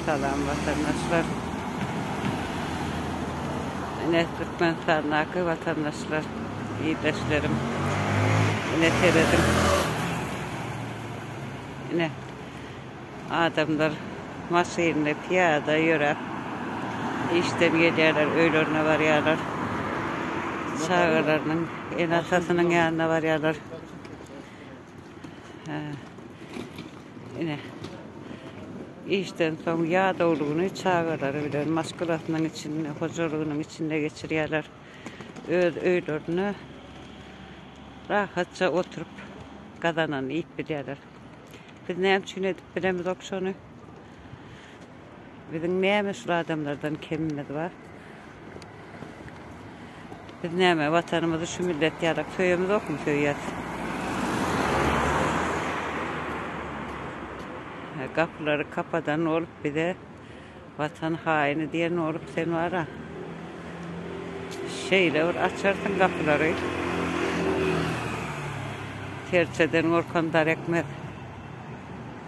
Salam watandaşlar. Ine Türkmenistandaky watandaşlar, ildeşlerim. Ine serediň. Ine adamlar maşynly, piýada ýöräp işden gelýärler, öýlerine barýarlar. Çagalarynyň, ene-atasynyň ýanyna barýarlar. Ine. Işden soň ýadawlygyny çagalary bilen maşgalasynyň içinde, hojalygynyň içinde geçirýärler. Öz öýlerinde rahatja oturyp, gazananyny iýip bilýärler. Biz näme üçin edip bilemizok şony? Biziň näme şul adamlardan kemimiz bar? Biz näme watanymyzy şu millet ýalak söýemizokmy söýýäs. Gapylary kapadan bolup bize watan haýyny diýen bolup sen bara şeýle bir açarsyň gapylary serçeden gorkan dar ekmez.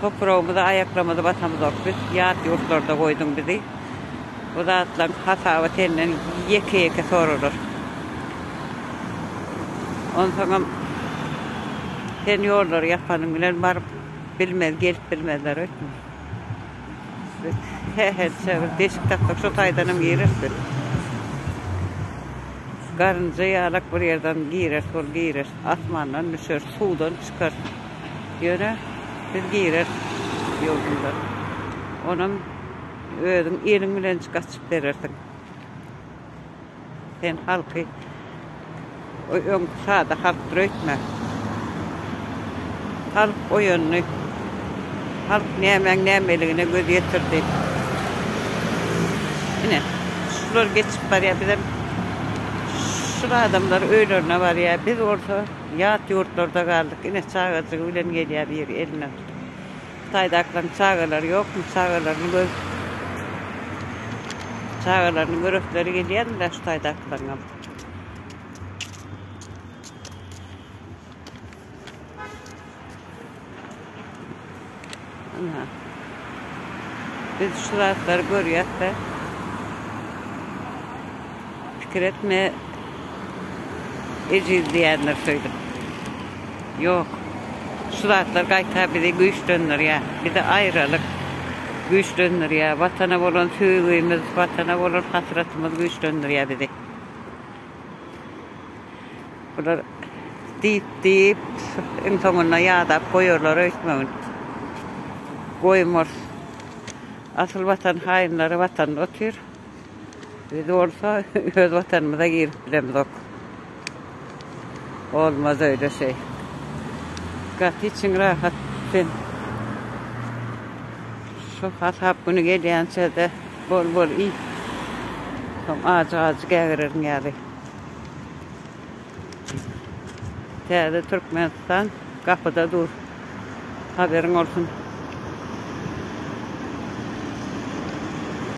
Topragymyza aýaklarymyzy basamzok biz, ýat ýurtlarda goýduň bizi. Bu zatlaryň hasaby senden ýeke-ýeke soralar. Onsoňam sen ýollary ýapanyň bilen baryp bilmez, gelip bilmezler öýtme. Biz hä-hä-çe bir deşik tapsak şo taýdanam gireris biz. Garynja ýalak bir ýerden gireris, ol girer, asmandan düşer, suwdan çykar. Ýöne biz girer ýurdumyza. Onam özüň eliň bilen gaçyp berersiň. Sen halky öňki sada halk büreýtme. Halk oýandy. Halk nämäň nämeligine göz ýetirdi. Ine, şular geçip barýar, bizem şul adamlar öýlerine barýar. Biz bolsa. Ýat ýurtlarda galdyk ine çagajygy bilen gelýä biri eline alyp. Hytaýdakylaryň çagalary ýokmy çagalaryny göz çagalaryny göresleri gelýändirä şu taýdakylaryňam. Biz şu zatları görýäs de pikir etme ejiz diýenler söýdüp. Ýok. Şu zatlar gaýta bizi güýçlendirýär. Bizi aýralyk güýçlendirýär. Watana bolan söýgimiz, watana bolan hasratymyz güýçlendirýär bizi. Bular diýip-diýip, iň soňunda ýadap goýarlar öýtmegin. Goýmaz. Asyl Watan haýynlary Watanda otyr. Biz bolsa öz Watanymyza girip bilemzok. Bolmaz öýle şeý. Gaty içiň rahat sen. Şu hasap güni gelýänçä-de bol-bol iý. Soň ajy-ajy gägireriň ýaly. Täze Türkmenistan gapyda dur. Haberiň bolsun.